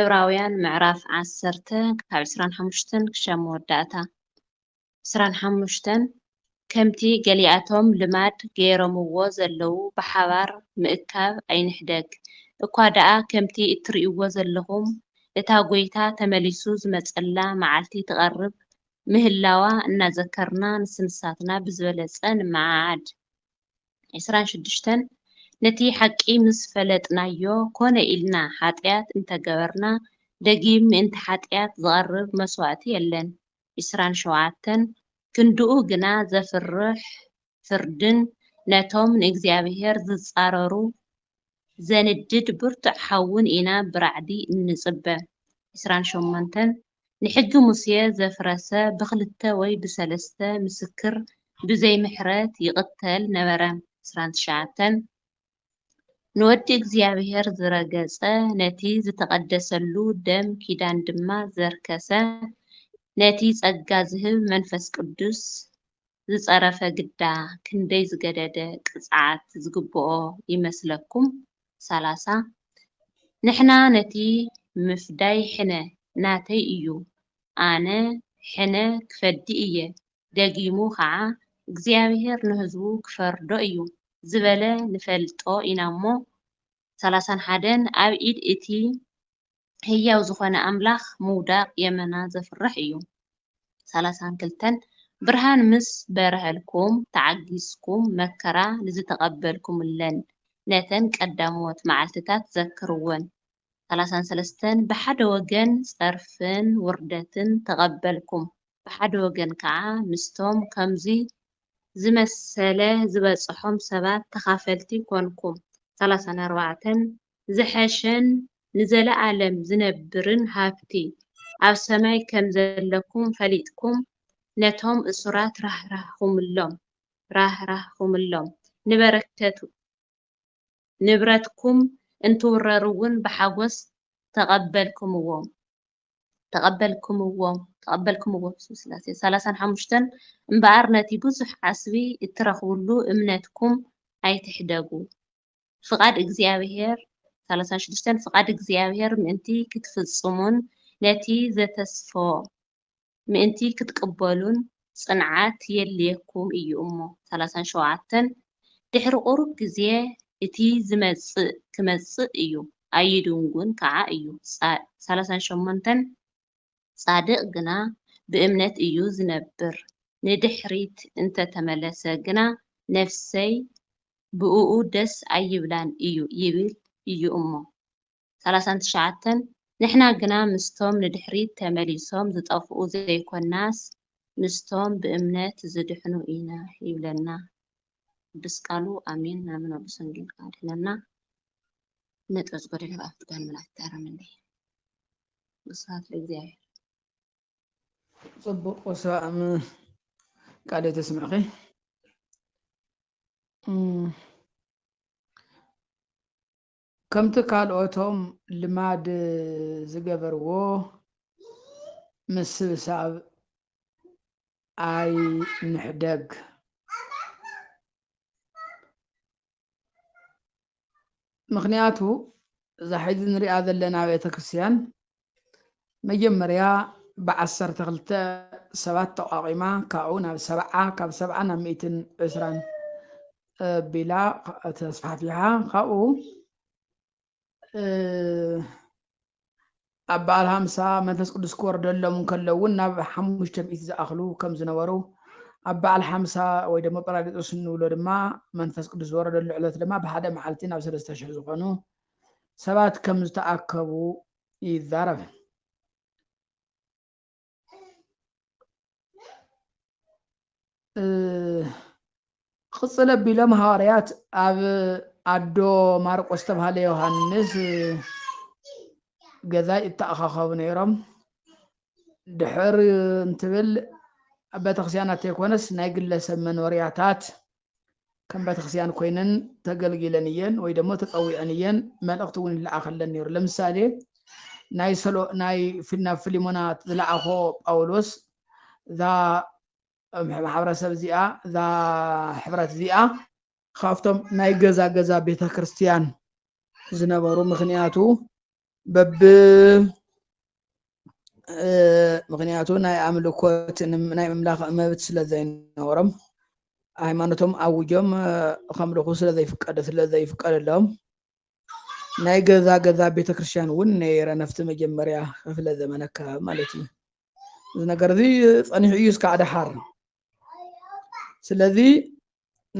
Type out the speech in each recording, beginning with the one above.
ዕብራውያን ምዕራፍ ዓሰርተ ካብ ዕስራን ሓሙሽተን ክሻብ መወዳእታ ዕስራን ሓሙሽተን ከምቲ ገሊኣቶም ልማድ ገይሮምዎ ዘለዉ ብሓባር ምእካብ ኣይንሕደግ፣ እኳ ደኣ ከምቲ እትርእይዎ ዘለኹም እታ ጐይታ ተመሊሱ ዝመጸላ መዓልቲ ትቐርብ ምህላዋ እናዘከርና ንስንሳትና ብዝበለጸ ንመዓዓድ። ዕስራን ሽዱሽተን ነቲ ሓቂ ምስ ፈለጥናዮ ኮነ ኢልና ሓጥያት እንተ ገበርና ደጊም ምእንቲ ሓጥያት ዝቐርብ መስዋእቲ የለን ዕስራን ሸውዓተን ክንድኡ ግና ዘፍርሕ ፍርድን ነቶም ንእግዚኣብሄር ዝጻረሩ ዘንድድ ብርቱዕ ሓውን ኢና ብራዕዲ እንጽበ ዕስራን ሸሞንተን ንሕጊ ሙሴ ዘፍረሰ ብክልተ ወይ ብሰለስተ ምስክር ብዘይ ምሕረት ይቅተል ነበረ። ዕስራን ትሽዓተን፣ ንወዲ እግዚኣብሔር ዝረገጸ ነቲ ዝተቐደሰሉ ደም ኪዳን ድማ ዘርከሰ ነቲ ጸጋ ዝህብ መንፈስ ቅዱስ ዝጸረፈ ግዳ ክንደይ ዝገደደ ቅጽዓት ዝግብኦ ይመስለኩም? ሰላሳ። ንሕና ነቲ ምፍዳይ ሕነ ናተይ እዩ፣ ኣነ ሕነ ክፈዲ እየ፣ ደጊሙ ኸኣ እግዚኣብሄር ንህዝቡ ክፈርዶ እዩ ዝበለ ንፈልጦ ኢናሞ፣ ሰላሳን ሓደን ኣብ ኢድ እቲ ህያው ዝኾነ ኣምላኽ ምውዳቕ የመና ዘፍርሕ እዩ። ሰላሳን ክልተን፣ ብርሃን ምስ በርሀልኩም፣ ተዓጊስኩም መከራ ንዝተቐበልኩምለን ነተን ቀዳሞት መዓልትታት ዘክርወን። ሰላሳን ሰለስተን፣ ብሓደ ወገን ጸርፍን ውርደትን ተቐበልኩም፣ ብሓደ ወገን ከኣ ምስቶም ከምዙይ ዝመሰለ ዝበጽሖም ሰባት ተኻፈልቲ ኮንኩም። ሰላሳን ኣርባዕተን፣ ዝሐሸን ንዘለኣለም ዝነብርን ሃብቲ ኣብ ሰማይ ከም ዘለኩም ፈሊጥኩም ነቶም እሱራት ራህራህኩምሎም ራህራህኩምሎም ንበረከቱ ንብረትኩም እንትውረር እውን ብሓጎስ ተቀበልክምዎም ተቀበልክምዎም ተቀበልክምዎ ብስም ስላሴ ሰላሳን ሓሙሽተን እምበኣር ነቲ ብዙሕ ዓስቢ እትረኽብሉ እምነትኩም ኣይትሕደጉ ፍቓድ እግዚኣብሔር፣ ሰላሳን ሽዱሽተን፣ ፍቓድ እግዚኣብሔር ምእንቲ ኽትፍጽሙን ነቲ ዘተስፎ ምእንቲ ኽትቅበሉን ጽንዓት የድልየኩም እዩ እሞ። ሰላሳን ሸውዓተን፣ ድሕሪ ቝሩብ ግዜ እቲ ዚመጽእ ኪመጽእ እዩ፣ ኣይድንጉን ከዓ እዩ። ሰላሳን ሸሞንተን፣ ጻድቕ ግና ብእምነት እዩ ዚነብር፣ ንድሕሪት እንተ ተመለሰ ግና፣ ነፍሰይ ብእኡ ደስ ኣይብላን እዩ ይብል እዩ እሞ። ሰላሳን ትሽዓተን፣ ንሕና ግና ምስቶም ንድሕሪት ተመሊሶም ዚጠፍኡ ዘይኰንናስ፣ ምስቶም ብእምነት ዚድሕኑ ኢና ይብለና ቅዱስ ቃሉ። ኣሜን ናምን ወልድ ሰንጌል ኣድኅነና እነጠዝጎ ደለብ ኣፍትጋን መላእክት ኣረምኔ። ወስብሃት ለእግዚኣብሔር። ጽቡቅ ወስብ ኣም ቃል ሕይወት የስምዕኺ። ከምቲ ካልኦቶም ልማድ ዝገበርዎ ምስብሳብ ኣይንሕደግ። ምኽንያቱ እዛ ሕዚ ንሪኣ ዘለና ቤተ ክርስቲያን መጀመርያ ብዓሰርተ ክልተ ሰባት ተቋቒማ ካብኡ ናብ ሰብዓ ካብ ሰብዓ ናብ ሚእትን ዕስራን ቢላ ተስፋሕፊሓ ካብኡ ኣብ በዓል ሃምሳ መንፈስ ቅዱስ ክወርደሎም እንከሎ እውን ናብ ሓሙሽተ ሚእቲ ዝኣኽሉ ከም ዝነበሩ ኣብ በዓል ሓምሳ ወይ ደሞ ጰራቅሊጦስ እንብሎ ድማ መንፈስ ቅዱስ ዝወረደሉ ዕለት ድማ ብሓደ መዓልቲ ናብ ሰለስተ ሽሕ ዝኾኑ ሰባት ከም ዝተኣከቡ ይዛረብ ቕፅል ኣቢሎም ሃዋርያት ኣብ ኣዶ ማርቆስ ዝተብሃለ ዮሃንስ ገዛይ እተኣኻኸቡ ነይሮም ድሕር እንትብል ኣብ ቤተክርስቲያናት ዘይኮነስ ናይ ግለሰብ መኖርያታት ከም ቤተክርስቲያን ኮይነን ተገልጊለን እየን ወይ ደሞ ተፀዊዐን እየን መልእኽቲ እውን ይለኣኸለን ነይሩ ለምሳሌ ናይ ሰሎ ናይ ናብ ፊሊሞና ዝለኣኾ ጳውሎስ እዛ ማሕበረሰብ እዚኣ እዛ ሕብረት እዚኣ ካብቶም ናይ ገዛ ገዛ ቤተ ክርስቲያን ዝነበሩ ምክንያቱ በብ ምክንያቱ ናይ ኣምልኮት ናይ ምምላኽ መብት ስለ ዘይነበሮም ሃይማኖቶም ኣውጆም ከምልኹ ስለ ዘይፍቀደ ስለ ዘይፍቀደሎም ናይ ገዛ ገዛ ቤተ ክርስቲያን እውን ነይረ ነፍቲ መጀመርያ ክፍለ ዘመነ ኣከባቢ ማለት እዩ እዚ ነገር እዚ ፀኒሑ እዩ እስካዕ ደሓር ስለዚ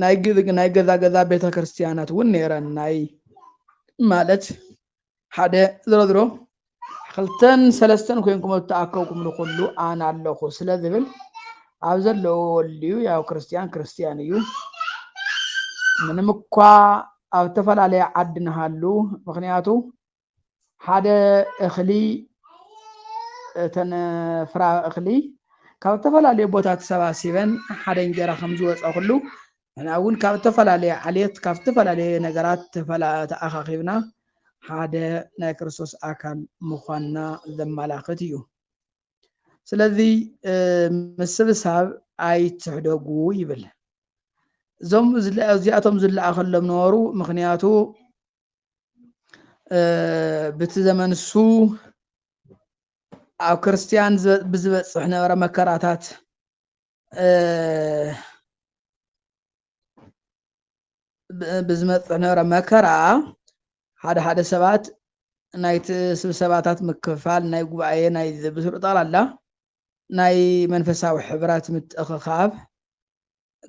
ናይ ግዝግ ናይ ገዛ ገዛ ቤተ ክርስቲያናት እውን ነይረን ናይ ማለት ሓደ ዝረዝሮ ክልተን ሰለስተን ኮይንኩም እተኣከብኩም ንኩሉ ኣነ ኣለኹ ስለ ዝብል ኣብ ዘለዎ ወልዩ ያው ክርስቲያን ክርስቲያን እዩ ምንም እኳ ኣብ ዝተፈላለየ ዓዲ ንሃሉ ምክንያቱ ሓደ እኽሊ እተን ፍራ እኽሊ ካብ እተፈላለየ ቦታ ተሰባሲበን ሓደ እንጀራ ከም ዝወፀ ኩሉ ንሕና እውን ካብ እተፈላለየ ዓሌት ካብ እተፈላለየ ነገራት ተኣኻኺብና ሓደ ናይ ክርስቶስ ኣካል ምዃንና ዘመላኽት እዩ ስለዚ ምስብሳብ ኣይትሕደጉ ይብል እዞም እዚኣቶም ዝለኣኸሎም ነበሩ ምክንያቱ ብቲ ዘመን እሱ ኣብ ክርስትያን ብዝበፅሕ ነበረ መከራታት ብዝመፅሕ ነበረ መከራ ሓደ ሓደ ሰባት ናይቲ ስብሰባታት ምክፍፋል ናይ ጉባኤ ናይ ብስሩ ጠቕላላ ናይ መንፈሳዊ ሕብራት ምትእኽኻብ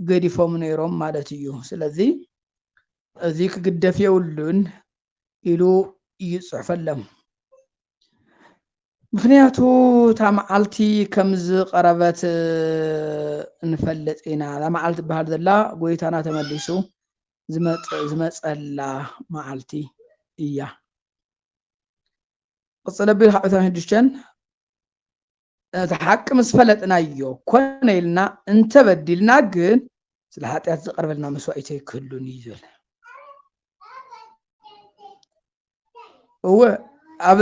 ገዲፎም ነይሮም ማለት እዩ። ስለዚ እዚ ክግደፍ የብሉን ኢሉ ይጽሑፈሎም። ምክንያቱ እታ መዓልቲ ከም ዝቐረበት ንፈልጥ ኢና። እዛ መዓልቲ ትበሃል ዘላ ጎይታና ተመሊሱ ዝመፀላ መዓልቲ እያ። ቅፅል ኣቢል ካብ ዕስራን ሽዱሽተን ነቲ ሓቂ ምስ ፈለጥናዮ ኮነ ኢልና እንተ በዲልና ግን ስለ ሓጢኣት ዝቐርበልና መስዋኢት ኣይክህሉን እዩ ዝብል እወ ኣብ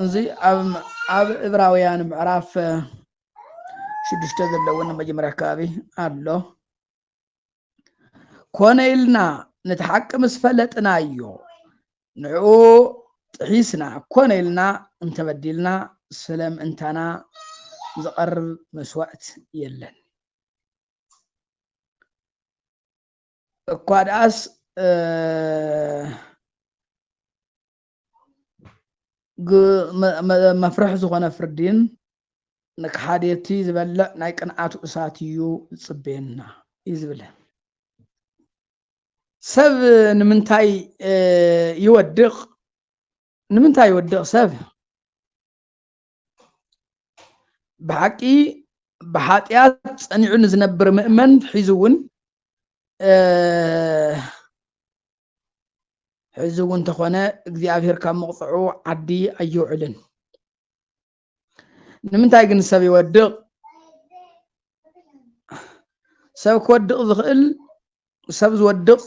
እዚ ኣብ እብራውያን ምዕራፍ ሽዱሽተ ዘለውን መጀመርያ ከባቢ ኣሎ ኮነ ኢልና ነቲ ሓቂ ምስ ፈለጥናዮ ንዕኡ ጥሒስና ኮነ ኢልና እንተበዲልና ስለ ምእንታና ዝቐርብ መስዋእት የለን እኳ ደኣስ መፍርሒ ዝኾነ ፍርዲን ንክሓድቲ ዝበልዕ ናይ ቅንዓቱ እሳት እዩ ዝፅበየና እዩ ዝብለን ሰብ ንምንታይ ይወድቕ ንምንታይ ይወድቕ ሰብ ብሓቂ ብሓጢኣት ጸኒዑ ንዝነብር ምእመን ሒዙ እውን ሕዚ እውን እንተኾነ እግዚኣብሄር ካብ መቕፅዑ ዓዲ ኣይውዕልን ንምንታይ ግን ሰብ ይወድቕ ሰብ ክወድቕ ዝኽእል ሰብ ዝወድቕ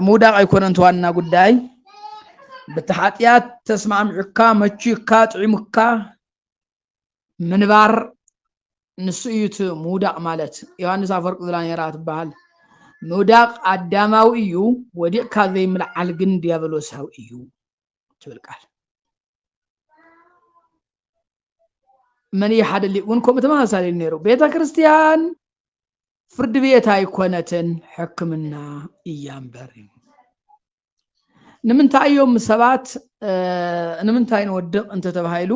ምውዳቕ ኣይኮነን እቲ ዋና ጉዳይ በቲ ሓጢኣት ተስማዕሚዑካ መቹካ ጥዒሙካ ምንባር ንሱ እዩ እቲ ምውዳቕ ማለት ዮሃንስ ኣፈወርቂ ዝላኔራ ትበሃል ምውዳቕ ኣዳማዊ እዩ ወዲቕካ ዘይምልዓል ግን ዲያብሎሳዊ እዩ ትብል ቃል መን እዩ ሓደ ሊቅ እውን ከምኡ ተመሳሳሊ ነይሩ ቤተ ክርስቲያን ፍርድ ቤት ኣይኮነትን ሕክምና እያ እምበር እዩ ንምንታይ እዮም ሰባት ንምንታይ ንወድቕ እንተተባሂሉ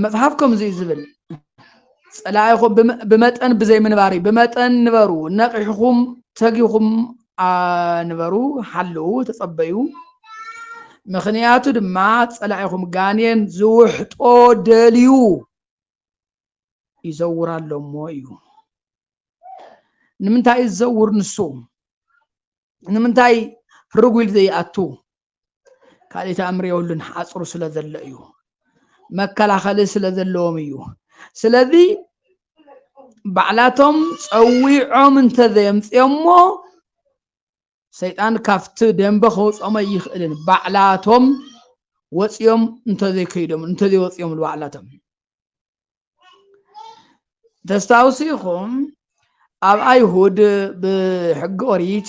መፅሓፍ ከምዚ እዩ ዝብል ፀላኢኹም ብመጠን ብዘይምንባር እዩ ብመጠን ንበሩ ነቂሕኹም ተጊኹም ንበሩ ሓለዉ ተፀበዩ ምክንያቱ ድማ ፀላኢኹም ጋኔን ዝውሕጦ ደልዩ ይዘውር ኣሎ እሞ እዩ ንምንታይ እዩ ዝዘውር ንሱ ንምንታይ ርጉል ዘይኣቱ ካልእ ተኣምር የብሉን ሓፅሩ ስለ ዘሎ እዩ መከላኸሊ ስለ ዘለዎም እዩ ስለዚ ባዕላቶም ፀዊዖም እንተዘየምፅኦሞ ሰይጣን ካብቲ ደንበ ከውፅኦም ኣይኽእልን ባዕላቶም ወፂኦም እንተዘይከይዶም እንተዘይወፂኦምሉ ባዕላቶም ተስታውሱ ኢኹም ኣብ ኣይሁድ ብሕጊ ኦሪት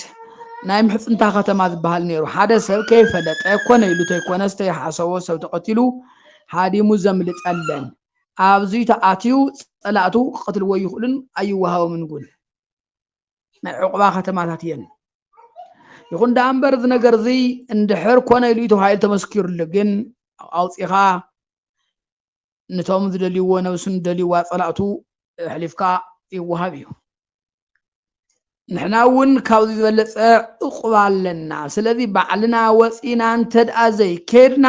ናይ ምሕፅንታ ከተማ ዝበሃል ነይሩ ሓደ ሰብ ከይፈለጠ ኮነ ኢሉ ተይኮነ ዝተይሓሰቦ ሰብ ተቐቲሉ ሃዲሙ ዘምልጥ ኣለን ኣብዚ ተኣትዩ ፀላእቱ ክቐትልዎ ይኽእሉን ኣይወሃቦምን እውን ናይ ዕቑባ ከተማታት እየን ይኹን ደኣ እምበር እዚ ነገር እዚ እንድሕር ኮነ ኢሉ እዩ ተባሂሉ ተመስኪሩሉ ግን ኣውፂኻ ነቶም ዝደልይዎ ነብሱ ንደልይዋ ፀላእቱ ኣሕሊፍካ ይወሃብ እዩ ንሕና እውን ካብዚ ዝበለፀ ዕቑባ ኣለና ስለዚ ባዕልና ወፂና እንተድኣ ዘይከድና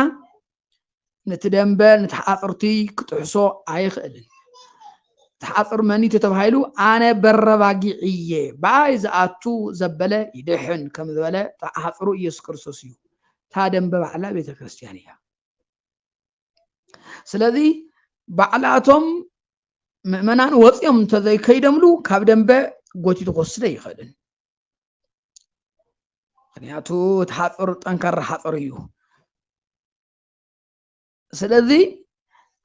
ነቲ ደንበ ንተሓቐቕርቲ ክጥሕሶ ኣይኽእልን። ተሓቕር መኒቱ ተባሂሉ ኣነ በረባጊዕ እየ ብኣይ ዝኣቱ ዘበለ ይድሕን ከም ዝበለ ተሓቕሩ ኢየሱስ ክርስቶስ እዩ። እታ ደንበ ባዕላ ቤተ ክርስቲያን እያ። ስለዚ ባዕላቶም ምእመናን ወፂኦም እንተዘይከይደምሉ ካብ ደንበ ጎቲቱ ክወስደ ይኽእልን ምክንያቱ እቲ ሓፁር ጠንካራ ሓፁር እዩ ስለዚ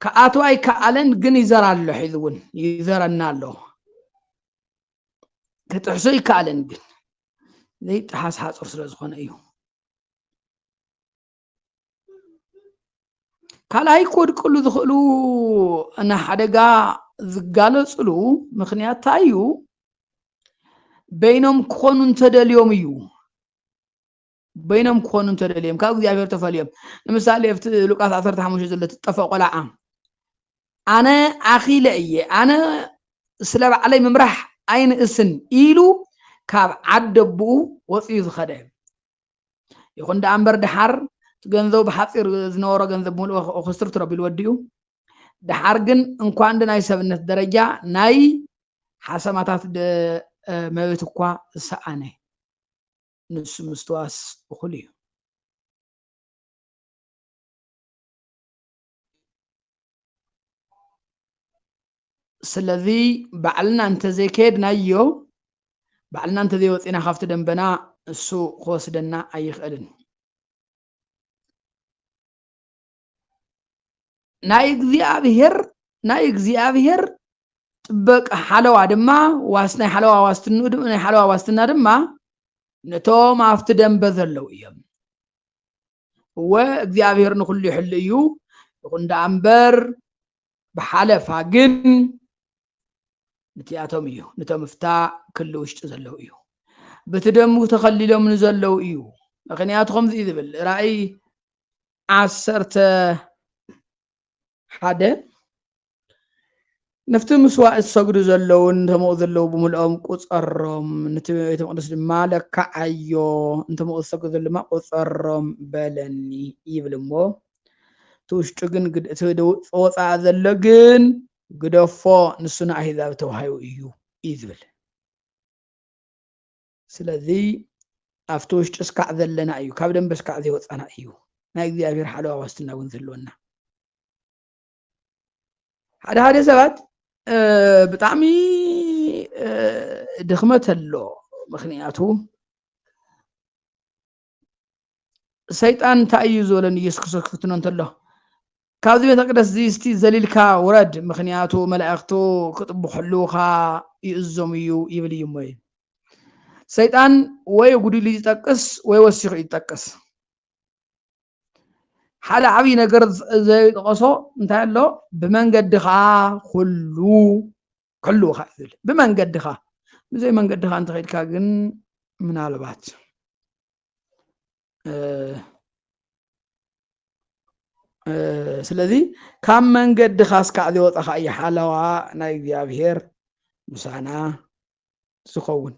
ክኣቱ ኣይከኣለን ግን ይዘራ ኣሎ ሒዚ እውን ይዘረና ኣሎ ክጥሕሱ ይከኣለን ግን ዘይጠሓስ ሓፁር ስለ ዝኾነ እዩ ካልኣይ ክወድቅሉ ዝኽእሉ ንሓደጋ ዝጋለፅሉ ምክንያት እንታይ እዩ በይኖም ክኾኑ እንተደልዮም እዩ በይኖም ክኾኑ እንተደልዮም ካብ እግዚኣብሔር ተፈልዮም ንምሳሌ ኣብቲ ሉቃስ 15 ዘሎ ትጠፈ ቆልዓ ኣነ ኣኺለ እየ ኣነ ስለ ባዕለይ ምምራሕ ኣይንእስን ኢሉ ካብ ዓደብኡ ወፅዩ ዝኸደ ይኹን ደኣ እምበር ደሓር እቲ ገንዘቡ ብሓፂር ዝነበሮ ገንዘብ ብምልኦ ክስትርትሮ ኣቢሉ ወዲኡ ደሓር ግን እንኳን ናይ ሰብነት ደረጃ ናይ ሓሰማታት መብት እኳ ዝሰኣነ ንሱ ምስትዋስ እኹል እዩ ስለዚ ባዕልና እንተዘይከየድናዮ ባዕልና እንተዘይወፂና ካብቲ ደንበና እሱ ክወስደና ኣይኽእልን ናይ እግዚኣብሄር ናይ እግዚኣብሄር ጥበቃ ሓለዋ ድማ ዋስ ናይ ሓለዋ ዋስትንኡ ናይ ሓለዋ ዋስትና ድማ ነቶም ኣብቲ ደንበ ዘለዉ እዮም እወ እግዚኣብሔር ንኩሉ ይሕሉ እዩ ይኹን ደኣ እምበር ብሓለፋ ግን ንቲኣቶም እዩ ንቶም እፍታ ክሊ ውሽጢ ዘለዉ እዩ በቲ ደሙ ተኸሊሎም ንዘለዉ እዩ ምክንያቱ ከምዚ እዩ ዝብል ራእይ ዓሰርተ ሓደ ነፍቲ ምስዋዕ ዝሰግዱ ዘለዉን ተምኡ ዘለዉ ብምልኦም ቁፀሮም ነቲ ቤተ መቅደስ ድማ ለካዓዮ እንተምኡ ዝሰግዱ ዘለዉ ድማ ቁፀሮም በለኒ ይብል እሞ እቲ ውሽጡ ግን እቲ ወፃኢ ዘሎ ግን ግደፎ ንሱ ንኣህዛብ ተዋሂቡ እዩ እዩ ዝብል ስለዚ ኣብቲ ውሽጢ እስካዕ ዘለና እዩ ካብ ደንበ እስካዕ ዘይወፃና እዩ ናይ እግዚኣብሔር ሓለዋ ዋስትና እውን ዘለወና ሓደ ሓደ ሰባት ብጣዕሚ ድኽመት ኣሎ ምክንያቱ ሰይጣን እንታይ እዩ ዝበሎ ንኢየሱስ ክርስቶስ ክፍትኖ እንተሎ ካብዚ ቤተ መቅደስ እዚ እስቲ ዘሊልካ ውረድ ምክንያቱ መላእክቱ ክጥብሕሉካ ይእዞም እዩ ይብል እዩ እሞ ሰይጣን ወይ ጉድሉ ይጠቅስ ወይ ወሲኹ ይጠቅስ ሓደ ዓብይ ነገር ዘይጠቐሶ እንታይ ኣሎ ብመንገድኻ ኩሉ ክሕልውኻ እዩ ዝብል ብመንገድኻ ብዘይ መንገድኻ እንተኸድካ ግን ምናልባት ስለዚ ካብ መንገድኻ እስካዕ ዝወፀኻ እዩ ሓለዋ ናይ እግዚኣብሄር ምሳና ዝኸውን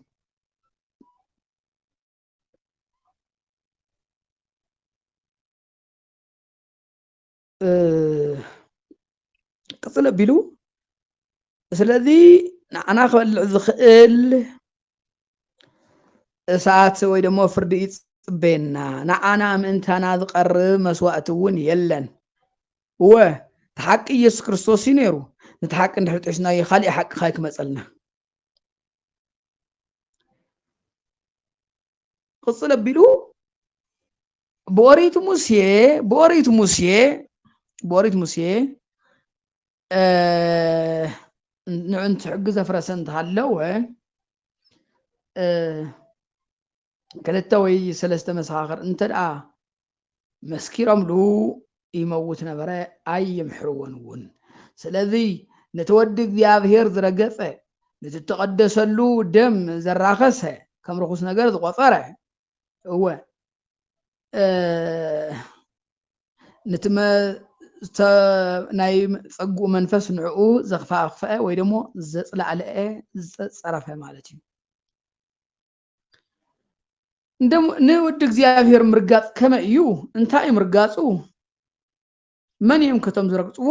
ቅፅል ኣቢሉ ስለዚ ንዓና ክበልዕ ዝኽእል እሳት ወይ ደሞ ፍርዲ ይፅበየና ንዓና ምእንታና ዝቐርብ መስዋእቲ እውን የለን እወ እቲ ሓቂ ኢየሱስ ክርስቶስ እዩ ነይሩ ነቲ ሓቂ እንድሕር ጢሒስናዮ ካሊእ ሓቂ ካይ ክመፀልና ቅፅል ኣቢሉ ብኦሪት ሙሴ ብኦሪት ሙሴ ብኦሪት ሙሴ ንዕንት ሕጊ ዘፍረሰ እንተሃለወ ክልተ ወይ ሰለስተ መሰኻኽር እንተድኣ መስኪሮምሉ ይመውት ነበረ፣ ኣይምሕርዎን እውን። ስለዚ ነቲ ወዲ እግዚኣብሄር ዝረገጸ፣ ነቲ እተቐደሰሉ ደም ዘራኸሰ፣ ከም ርኹስ ነገር ዝቖጸረ፣ እወ ነቲ ናይ ጸግኡ መንፈስ ንዕኡ ዘኽፋኽፈአ ወይ ደሞ ዘጽላዕለአ ዝጸረፈ ማለት እዩ ንወዲ እግዚኣብሔር ምርጋፅ ከመይ እዩ? እንታይ እዩ ምርጋፁ? መን እዮም ከቶም ዝረግፅዎ?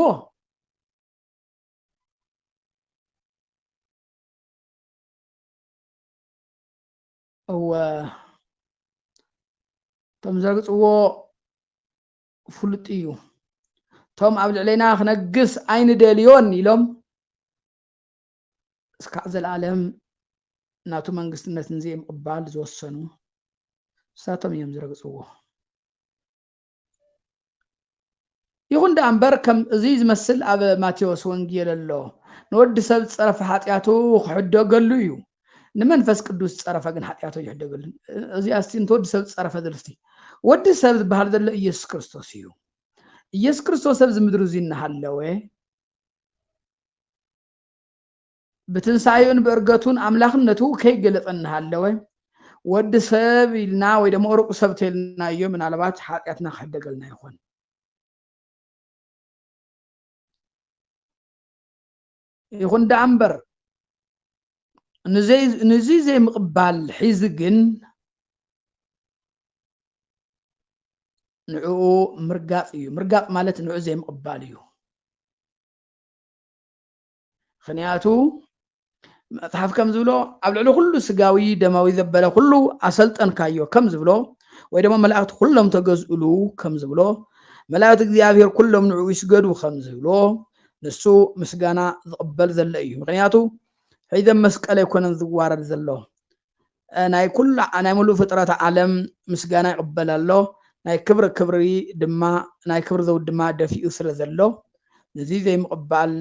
እወ እቶም ዝረግፅዎ ፍሉጥ እዩ እቶም ኣብ ልዕሌና ክነግስ ኣይንደልዮን ኢሎም እስካዕ ዘልኣለም ናቱ መንግስትነት ንዘይምቕባል ዝወሰኑ ንሳቶም እዮም ዝረግፅዎ። ይኹን ደኣ እምበር ከም እዙይ ዝመስል ኣብ ማቴዎስ ወንጌል ኣሎ። ንወዲ ሰብ ፀረፈ ሓጢኣቱ ክሕደገሉ እዩ። ንመንፈስ ቅዱስ ፀረፈ ግን ሓጢኣቱ ኣይሕደገሉ። እዚኣ እስቲ ንትወዲ ሰብ ፀረፈ ዝልስቲ ወዲ ሰብ ዝበሃል ዘሎ ኢየሱስ ክርስቶስ እዩ። ኢየሱስ ክርስቶስ ኣብዚ ምድሪ እዙይ እናሃለወ ብትንሳኤኡን ብእርገቱን ኣምላኽነቱ ከይገልፅ እናሃለወ ወዲ ሰብ ኢልና ወይ ደሞ ሩቅ ሰብ ተልናዮ ምናልባት ሓጢኣትና ክሕደገልና ይኾን ይኹን ደኣ እምበር ንዚ ዘይምቕባል ሒዚ ግን ንዕኡ ምርጋፅ እዩ ምርጋፅ ማለት ንዑ ዘይምቕባል እዩ ምኽንያቱ መጽሓፍ ከም ዝብሎ ኣብ ልዕሊ ኩሉ ስጋዊ ደማዊ ዘበለ ኩሉ ኣሰልጠንካዮ ከም ዝብሎ ወይ ድማ መላእክቲ ኩሎም ተገዝእሉ ከም ዝብሎ መላእክቲ እግዚኣብሔር ኩሎም ንዕኡ ይስገዱ ከም ዝብሎ ንሱ ምስጋና ዝቕበል ዘሎ እዩ ምክንያቱ ሒዘ መስቀል ኣይኮነን ዝዋረድ ዘሎ ናይ ኩሉ ናይ ምሉእ ፍጥረት ዓለም ምስጋና ይቕበል ኣሎ፣ ናይ ክብሪ ክብሪ ድማ ናይ ክብሪ ዘውዲ ድማ ደፊኡ ስለ ዘሎ፣ ነዚ ዘይምቕባል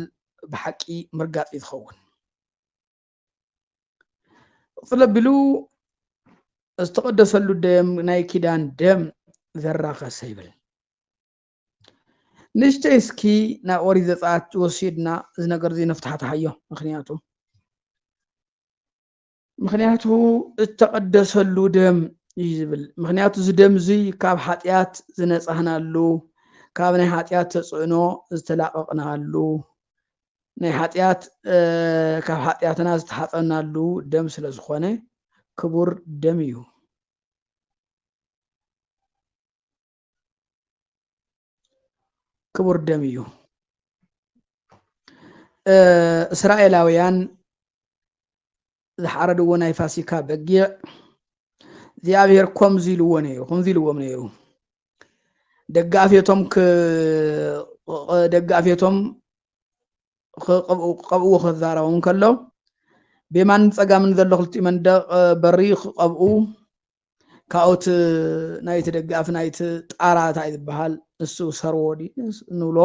ብሓቂ ምርጋጽ እዩ ዝኸውን። ቕጽል ኣቢሉ ዝተቐደሰሉ ደም ናይ ኪዳን ደም ዘራኸሰ ይብል። ንእሽተይ እስኪ ናብ ኦሪት ዘጸኣት ወሲድና እዚ ነገር እዚ ነፍታሕታሓዮ ምክንያቱ ምኽንያቱ እተቐደሰሉ ደም እዩ ዝብል ምኽንያቱ እዚ ደም እዙይ ካብ ሓጢኣት ዝነጻህናሉ ካብ ናይ ሓጢኣት ተጽዕኖ ዝተላቐቕናሉ ናይ ሓጢኣት ካብ ሓጢኣትና ዝተሓፀናሉ ደም ስለ ዝኾነ ክቡር ደም እዩ ክቡር ደም እዩ እስራኤላውያን ዝሓረድዎ ናይ ፋሲካ በጊዕ እግዚኣብሔር ከምዚ ኢልዎ ነይሩ ከምዚ ኢልዎም ነይሩ ደቂ ኣፌቶም ደቂ ኣፌቶም ክቀብእዎ ክዛረቦም ከሎ ብየማንን ፀጋምን ዘሎ ክልቲኡ መንደቅ በሪ ክቀብኡ ካብኡት ናይቲ ደጋፊ ናይቲ ጣራ እንታይ ዝበሃል ንሱ ሰርዎ ንብሎ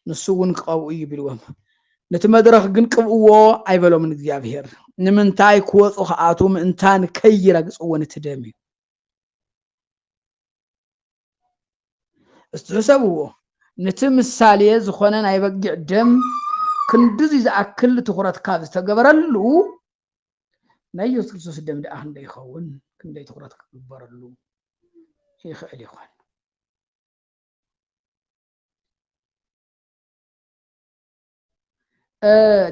ንሱ እውን ክቐብኡ እዩ ቢልዎም ነቲ መድረኽ ግን ቅብእዎ ኣይበሎምን እግዚኣብሄር ንምንታይ ክወፁ ከኣቱ ምእንታን ከይረግፅዎ ነቲ ደም እዩ እስቲ ሕሰብዎ ነቲ ምሳሌ ዝኾነ ናይ በጊዕ ደም ክንድዚ ዝኣክል ትኹረት ካብ ዝተገበረሉ ናይ ኢየሱስ ክርስቶስ ደም ደኣ ክንደይ ይኸውን ክንደይ ትኹረት ክግበረሉ ይኽእል ይኾን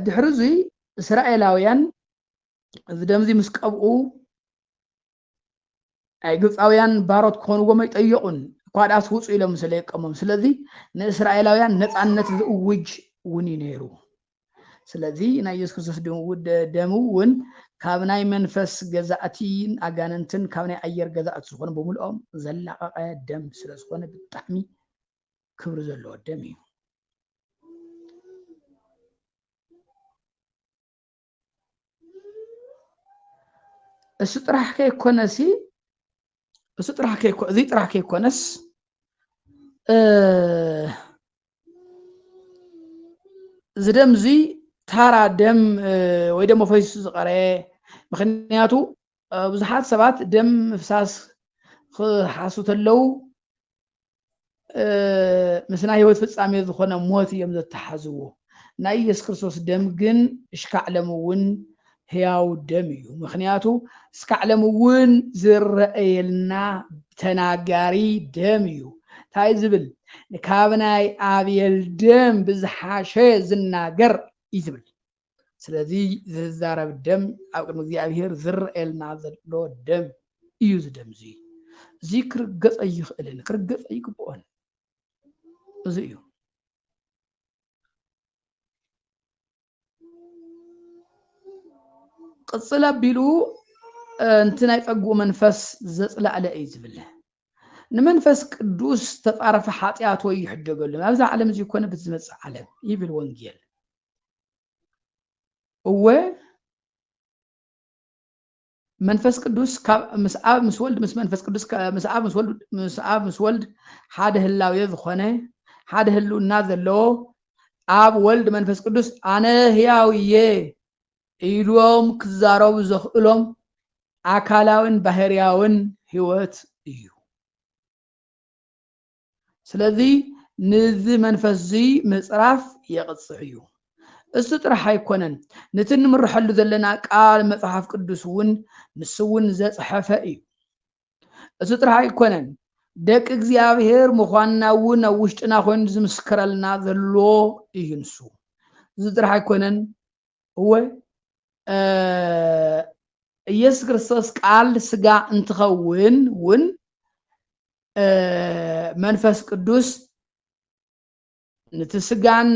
ድሕሪ እዙይ እስራኤላውያን እዚ ደምዚ ምስ ቀብኡ ኣይ ግብፃውያን ባሮት ክኾንዎም ኣይጠየቑን እኳ ድኣስ ውፁ ኢሎም ስለየቀሞም ስለዚ ንእስራኤላውያን ነፃነት ዝእውጅ እውን እዩ ነይሩ ስለዚ ናይ የሱስ ክርስቶስ ደም እውን ካብ ናይ መንፈስ ገዛእቲን ኣጋንንትን ካብ ናይ ኣየር ገዛእቲ ዝኾኑ ብምልኦም ዘላቐቐ ደም ስለ ዝኾነ ብጣዕሚ ክብሪ ዘለዎ ደም እዩ እሱ ጥራሕ ከይኮነሲ እሱ ጥራሕ ከይኮ እዚ ጥራሕ ከይኮነስ እዚ ደም እዚ ታራ ደም ወይ ደሞ ፈሲሱ ዝቐረየ ምክንያቱ ብዙሓት ሰባት ደም ምፍሳስ ክሓሱ ተለው ምስ ናይ ህይወት ፍጻሜ ዝኾነ ሞት እዮም ዘተሓዝዎ። ናይ ኢየሱስ ክርስቶስ ደም ግን እሽካዕ ለሚ እውን ህያው ደም እዩ። ምክንያቱ እስካዕ ለሚ እውን ዝረኣየልና ተናጋሪ ደም እዩ። እንታይ ዝብል ካብ ናይ ኣቤል ደም ብዝሓሸ ዝናገር እዩ ዝብል። ስለዚ ዝዛረብ ደም ኣብ ቅድሚ እግዚኣብሄር ዝረኣየልና ዘሎ ደም እዩ እዚ ደም እዙይ እዙይ ክርገፅ ኣይኽእልን ክርገፅ ኣይግብኦን እዚ እዩ ቅፅል ኣቢሉ እንቲ ናይ ፀጉኡ መንፈስ ዘፅላእለ እዩ ዝብል ንመንፈስ ቅዱስ ተፃረፈ ሓጢኣት ወይ ይሕደገሉ ናብዛ ዓለም እዚ ኮነ ብዝመፅእ ዓለም ይብል ወንጌል እወ መንፈስ ቅዱስ ካብ ምስ ኣብ ምስ ወልድ ምስ መንፈስ ቅዱስ ምስ ኣብ ምስ ወልድ ምስ ኣብ ምስ ወልድ ሓደ ህላዌ ዝኾነ ሓደ ህልውና ዘለዎ ኣብ ወልድ መንፈስ ቅዱስ ኣነ ህያው እየ ኢሎም ክዛረቡ ዘኽእሎም ኣካላውን ባህርያውን ህይወት እዩ። ስለዚ ንዚ መንፈስ እዚ ምጽራፍ የቕጽዕ እዩ። እሱ ጥራሕ ኣይኮነን ንቲ ንምረሐሉ ዘለና ቃል መጽሓፍ ቅዱስ እውን ንሱ እውን ዘጽሐፈ እዩ። እሱ ጥራሕ ኣይኮነን ደቂ እግዚኣብሔር ምዃንና እውን ኣብ ውሽጥና ኮይኑ ዝምስክረልና ዘሎ እዩ ንሱ እዚ ጥራሕ ኣይኮነን እወ ኢየሱስ ክርስቶስ ቃል ስጋ እንትኸውን እውን መንፈስ ቅዱስ ንቲ ስጋን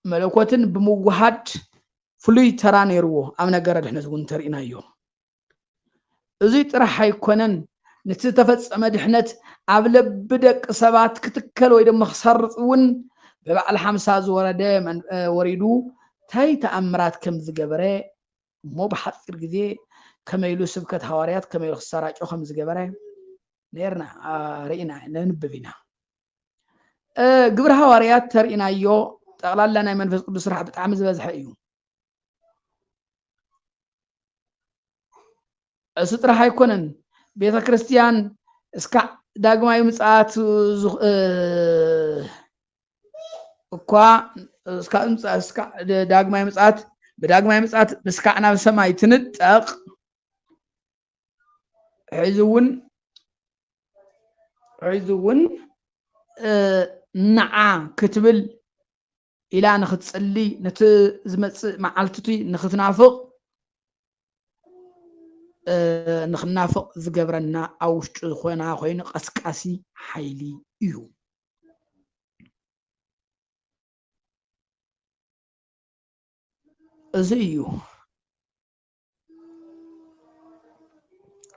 መለኮትን ብምውሃድ ፍሉይ ተራ ነይርዎ ኣብ ነገረ ድሕነት እውን ተርእናዮ እዙይ ጥራሕ ኣይኮነን ንቲ ዝተፈፀመ ድሕነት ኣብ ለቢ ደቂ ሰባት ክትከል ወይ ደሞ ክሰርፅ እውን ብበዓል ሓምሳ ዝወረደ ወሪዱ ታይ ተኣምራት ከም ዝገበረ እሞ ብሓፂር ግዜ ከመይ ኢሉ ስብከት ሃዋርያት ከመይ ኢሉ ክሰራጮ ከም ዝገበረ ነርና ርኢና ነንብብ ኢና ግብሪ ሃዋርያት ተርእናዮ ጠቕላላ ናይ መንፈስ ቅዱስ ስራሕ ብጣዕሚ ዝበዝሐ እዩ እሱ ጥራሕ ኣይኮነን ቤተ ክርስቲያን እስካ ዳግማዊ ምጽኣት እኳ ዳግማዊ ምጽኣት ብዳግማዊ ምጽኣት ብስካዕ ናብ ሰማይ ትንጠቕ ሕዚ እውን ሕዚ እውን ንዓ ክትብል ኢላ ንክትጽሊ ነቲ ዝመጽእ መዓልትቲ ንክትናፍቕ ንክናፍቕ ዝገብረና ኣብ ውሽጡ ዝኾና ኮይኑ ቀስቃሲ ሓይሊ እዩ እዚ እዩ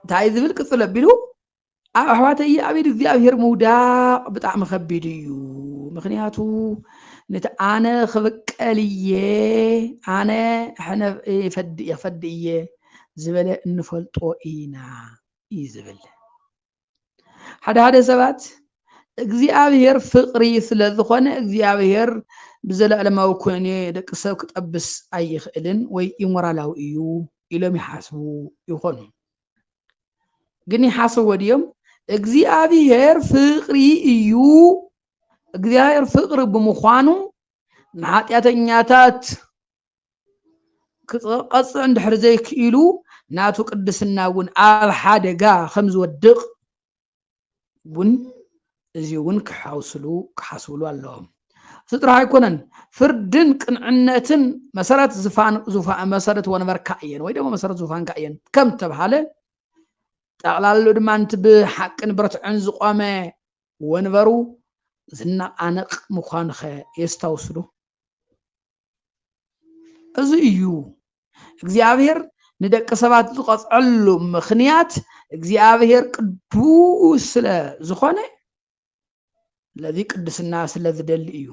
እንታይ ዝብል ቅፅል ኣቢሉ ኣብ ኣሕዋተይ ኣብ ኢድ እግዚኣብሄር ምውዳቕ ብጣዕሚ ከቢድ እዩ ምክንያቱ ነቲ ኣነ ክብቀል እየ ኣነ ሕነ ፈዲ እየ ዝበለ እንፈልጦ ኢና እዩ ዝብል ሓደ ሓደ ሰባት እግዚኣብሔር ፍቅሪ ስለ ዝኾነ እግዚኣብሔር ብዘለኣለማዊ ኮነ ደቂ ሰብ ክጠብስ ኣይኽእልን ወይ ኢሞራላዊ እዩ ኢሎም ይሓስቡ ይኾኑ። ግን ይሓስቡ ድዮም? እግዚኣብሔር ፍቅሪ እዩ። እግዚኣብሔር ፍቅሪ ብምዃኑ ንኃጢአተኛታት ክቐጽዕ እንድሕር ዘይክኢሉ ናቱ ቅድስና እውን ኣብ ሓደጋ ከም ዝወድቕ እውን እዚ እውን ክሓውስሉ ክሓስብሉ ኣለዎም እዚ ጥራሕ ኣይኮነን ፍርድን ቅንዕነትን መሰረት ዝፋን መሰረት ወንበርካ እየን ወይ ደግሞ መሰረት ዙፋንካ እየን ከም ተብሃለ ጠቕላሉ ድማ ንቲ ብሓቅን ብርትዕን ዝቆመ ወንበሩ ዝነቃነቅ ምዃኑ ኸ የስታውስሉ እዚ እዩ እግዚኣብሔር ንደቂ ሰባት ዝቐፅዐሉ ምክንያት እግዚኣብሔር ቅዱስ ስለ ዝኾነ ስለዚ ቅድስና ስለ ዝደሊ እዩ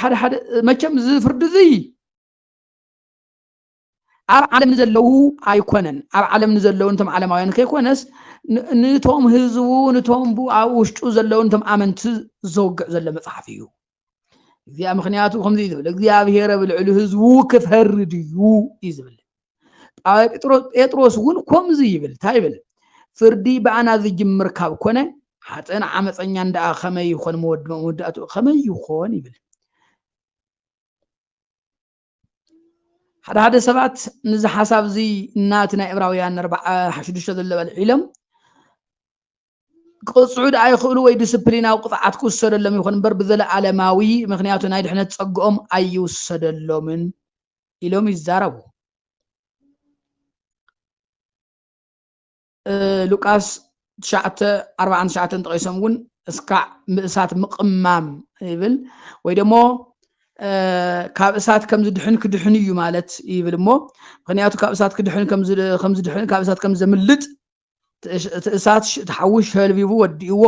ሓደ ሓደ መቸም እዚ ፍርዲ እዚ ኣብ ዓለም ንዘለዉ ኣይኮነን ኣብ ዓለም ንዘለዉ ንቶም ዓለማውያን ከይኮነስ ንቶም ህዝቡ ንቶም ብ ኣብ ውሽጡ ዘለዉ ንቶም ኣመንቲ ዘውግዕ ዘሎ መፅሓፍ እዩ እግዚኣብ ምክንያቱ ከምዚ እዩ ዝብል እግዚኣብሄር ኣብ ልዕሊ ህዝቡ ክፈርድ እዩ እዩ ዝብል ጴጥሮስ እውን ከምዚ ይብል እንታይ ይብል ፍርዲ ብኣና ዝጅምር ካብ ኮነ ሓጥእን ዓመፀኛን ደኣ ከመይ ይኾን መወዳእትኡ ከመይ ይኾን ይብል ሓደ ሓደ ሰባት ንዚ ሓሳብ እዚ እናቲ ናይ እብራውያን ሽዱሽተ ዘሎ በልዒሎም ክቕፅዑ ድኣ ይኽእሉ ወይ ዲስፕሊናዊ ቅፅዓት ክውሰደሎም ይኹን እምበር ብዘለኣለማዊ ምክንያቱ ናይ ድሕነት ፀግኦም ኣይውሰደሎምን ኢሎም ይዛረቡ ሉቃስ ትሽዓተ ኣርባዓን ትሽዓተን ጠቂሶም እውን እስካዕ ምእሳት ምቕማም ይብል ወይ ደሞ ካብ እሳት ከም ዝድሕን ክድሕን እዩ ማለት ይብል እሞ ምክንያቱ ካብ እሳት ክድሕን ከም ዝድሕን ካብ እሳት ከም ዘምልጥ እቲ እሳት እቲ ሓዊ ሸልቢቡ ወዲእዎ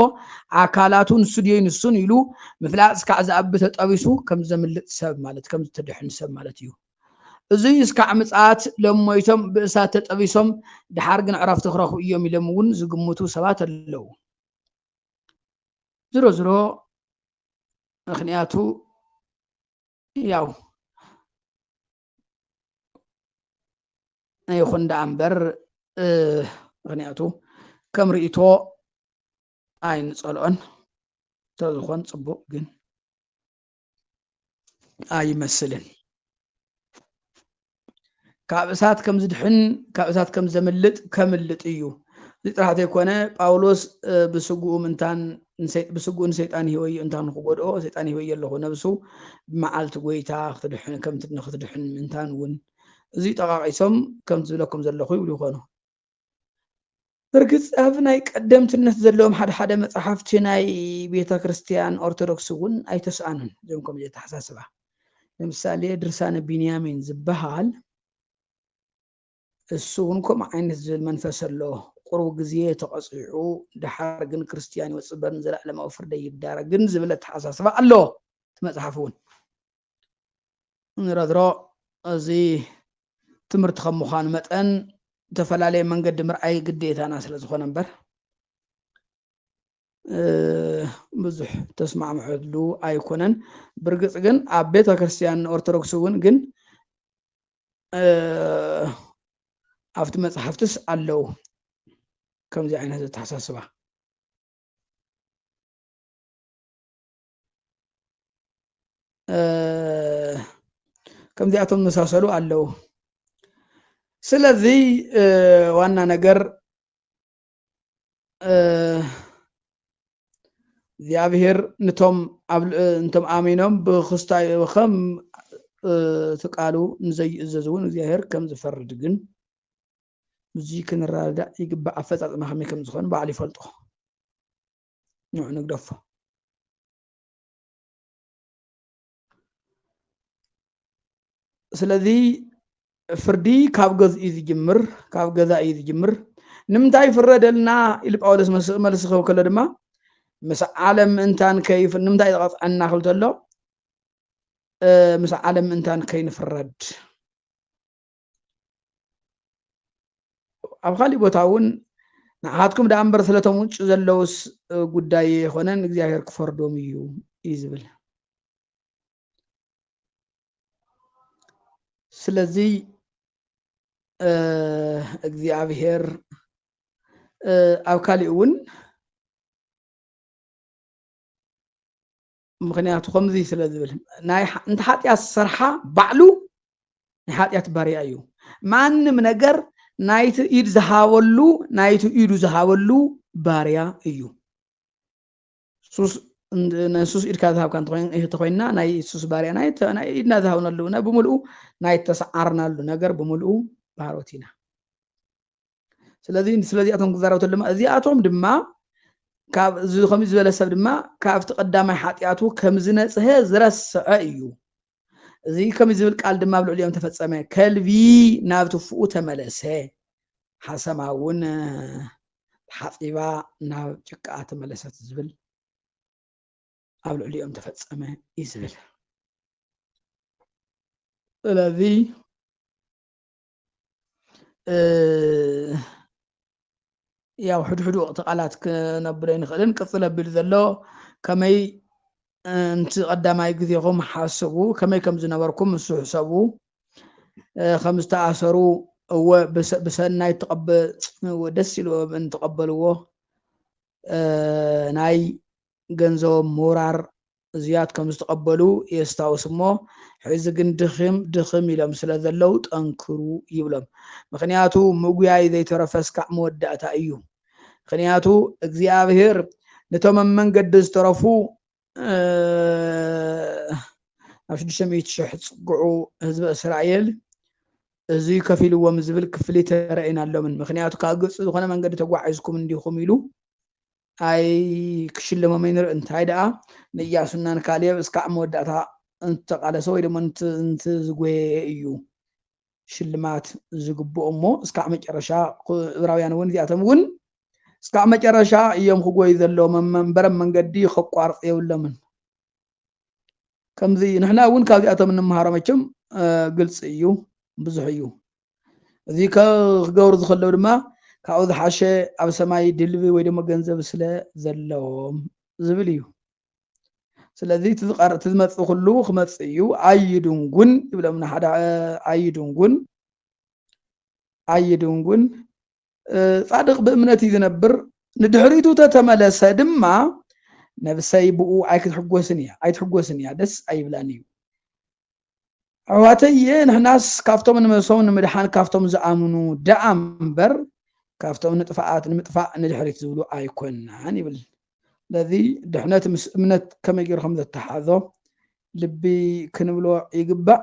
ኣካላቱ ንሱ ድየይ ንሱን ኢሉ ምፍላጥ እስካዕ ዝኣቢ ተጠቢሱ ከም ዘምልጥ ሰብ ማለት ከም ዝተድሕን ሰብ ማለት እዩ እዙይ እስካዕ ምፅኣት ሎም ሞይቶም ብእሳት ተጠቢሶም ድሓር ግን ዕረፍቲ ክረኽቡ እዮም ኢሎም እውን ዝግምቱ ሰባት ኣለው። ዝሮ ዝሮ ምክንያቱ ያው ይኹን ደኣ እምበር ምክንያቱ ከም ርእቶ ኣይንፀልኦን ተዝኾን ፅቡቅ ግን ኣይመስልን ካብ እሳት ከም ዝድሕን ካብ እሳት ከም ዘምልጥ ከምልጥ እዩ እዚ ጥራሕ ዘይኮነ ጳውሎስ ብስጉኡ ምንታን ብስጉኡ ንሰይጣን ህወዮ እንታን ክጎድኦ ሰይጣን ህወዮ ኣለኹ ነብሱ ብመዓልቲ ጎይታ ከምትድሕን ምንታን እውን እዚ ጠቃቂሶም ከም ዝብለኩም ዘለኹ ይብሉ ይኾኑ ብርግጽ ኣብ ናይ ቀደምትነት ዘለዎም ሓደ ሓደ መጻሕፍቲ ናይ ቤተ ክርስቲያን ኦርቶዶክስ እውን ኣይተስኣኑን እዞም ከምዚ ኣተሓሳስባ ለምሳሌ ድርሳነ ቢንያሚን ዝበሃል እሱ እውን ከምኡ ዓይነት ዝብል መንፈስ ኣሎ ቁርቡ ግዜ ተቐፂዑ ድሓር ግን ክርስትያን ይወፅእ በርን ዘለኣለማዊ ፍርደይ ይዳረግን ዝብል ኣተሓሳስባ ኣሎ እቲ መፅሓፍ እውን ንረድሮ እዚ ትምህርቲ ከም ምዃኑ መጠን ዝተፈላለየ መንገዲ ምርኣይ ግዴታና ስለ ዝኾነ እምበር ብዙሕ ተስማዕምዐሉ ኣይኮነን ብርግፅ ግን ኣብ ቤተ ክርስቲያን ኦርቶዶክስ እውን ግን ኣብቲ መፅሓፍትስ ኣለው ከምዚ ዓይነት ዘተሓሳስባ ከምዚኣቶም መሳሰሉ ኣለዉ ስለዚ ዋና ነገር እግዚኣብሔር ንቶም እንቶም ኣሚኖም ብክስታይ ከም ትቃሉ ንዘይእዘዝ እውን እግዚኣብሔር ከም ዝፈርድ ግን ብዙይ ክንረዳእ ይግባእ ኣፈፃፅማ ከመይ ከም ዝኮኑ ባዕሉ ይፈልጦ ንዑ ንግደፎ ስለዚ ፍርዲ ካብ ገዝ እዩ ዝጅምር ካብ ገዛ እዩ ዝጅምር ንምንታይ ፍረደልና ኢሉ ጳውሎስ መልሲ ክህብ ከሎ ድማ ምስ ዓለም ምእንታን ንምንታይ ዝቐፅዐና ክብል ተሎ ምስ ዓለም ምእንታን ከይንፍረድ ኣብ ካሊእ ቦታ እውን ንዓኻትኩም ደኣ እምበር ስለቶም ውጭ ዘለውስ ጉዳይ የኮነን እግዚኣብሔር ክፈርዶም እዩ እዩ ዝብል ስለዚ እግዚኣብሔር ኣብ ካሊእ እውን ምክንያቱ ከምዚ ስለ ዝብል እንተ ሓጢኣት ዝሰርሓ ባዕሉ ናይ ሓጢኣት ባርያ እዩ ማንም ነገር ናይቲ ኢድ ዝሃበሉ ናይቲ ኢዱ ዝሃበሉ ባርያ እዩ ሱስ ንሱስ ኢድካ ዝሃብካ እንተኮይንና ናይ ሱስ ባርያ ናይ ኢድና ዝሃብነሉ ነ ብምልኡ ናይ ተሰዓርናሉ ነገር ብምልኡ ባሮት ኢና ስለዚ ስለዚኣቶም ክዛረብ ተሎ ድማ እዚኣቶም ድማ ካብ እዚ ከምዚ ዝበለ ሰብ ድማ ካብቲ ቀዳማይ ሓጢኣቱ ከም ዝነፅሀ ዝረስዐ እዩ እዚ ከምዚ ዝብል ቃል ድማ ኣብ ልዕሊኦም ተፈፀመ ከልቢ ናብ ትፍኡ ተመለሰ ሓሰማ እውን ሓፂባ ናብ ጭቃ ተመለሰት ዝብል ኣብ ልዕሊኦም ተፈፀመ እዩ ዝብል ስለዚ ያው ሕድሕዱ ወቕቲ ቃላት ክነብሎ ይንኽእልን ቅፅል ኣቢሉ ዘሎ ከመይ እንቲ ቀዳማይ ግዜኹም ሓስቡ ከመይ ከም ዝነበርኩም ንሱ ሕሰቡ ከም ዝተኣሰሩ እወ ብሰናይ ተቐበ ደስ ኢልዎ እንተቐበልዎ ናይ ገንዘቦም ምውራር እዙያት ከምዝተቐበሉ የስታውስ እሞ ሕዚ ግን ድኽም ድኽም ኢሎም ስለዘለው ጠንክሩ ይብሎም ምኽንያቱ ምጉያይ ዘይተረፈስ ካዕ መወዳእታ እዩ ምኽንያቱ እግዚኣብሔር ነቶም ኣብ መንገዲ ዝተረፉ ኣብ ሽዱሽተ ሚእቲ ሽሕ ዝፅግዑ ህዝቢ እስራኤል እዙይ ከፊልዎም ዝብል ክፍሊት ተረእየናሎምን ምክንያቱ ካብ ግብፂ ዝኾነ መንገዲ ተጓዒዝኩም እንዲኹም ኢሉ ኣይ ክሽለሞም ይንር እንታይ ደኣ ንእያሱና ንካሌብ እስካዕ መወዳእታ እንትተቃለሰ ወይ ደሞ እንትዝጎየ እዩ ሽልማት ዝግብኦ እሞ እስካዕ መጨረሻ እብራውያን እውን እዚኣቶም እውን እስካዕ መጨረሻ እዮም ክጎዩ ዘለዎም መንበረም መንገዲ ከቋርፅ የብሎምን ከምዚ ንሕና እውን ካብዚኣቶም እንምሃሮ መቸም ግልፂ እዩ ብዙሕ እዩ እዚ ክገብሩ ዝኸለው ድማ ካብኡ ዝሓሸ ኣብ ሰማይ ድልቢ ወይ ደሞ ገንዘብ ስለ ዘለዎም ዝብል እዩ ስለዚ እቲ ዝመፅእ ኩሉ ክመፅእ እዩ ኣይድንጉን ይብሎም ንሓደ ኣይድንጉን ኣይድንጉን ጻድቕ ብእምነት እዩ ዝነብር፣ ንድሕሪቱ ተተመለሰ ድማ ነብሰይ ብኡ ኣይክትሕጎስን እያ ኣይትሕጎስን እያ ደስ ኣይብላን እዩ ኣሕዋተየ ንሕናስ ካብቶም ንመሶም ንምድሓን ካብቶም ዝኣምኑ ደኣ እምበር ካብቶም ንጥፍኣት ንምጥፋእ ንድሕሪት ዝብሉ ኣይኮናን ይብል ስለዚ ድሕነት ምስ እምነት ከመይ ገይሩ ከም ዘተሓዞ ልቢ ክንብሎ ይግባእ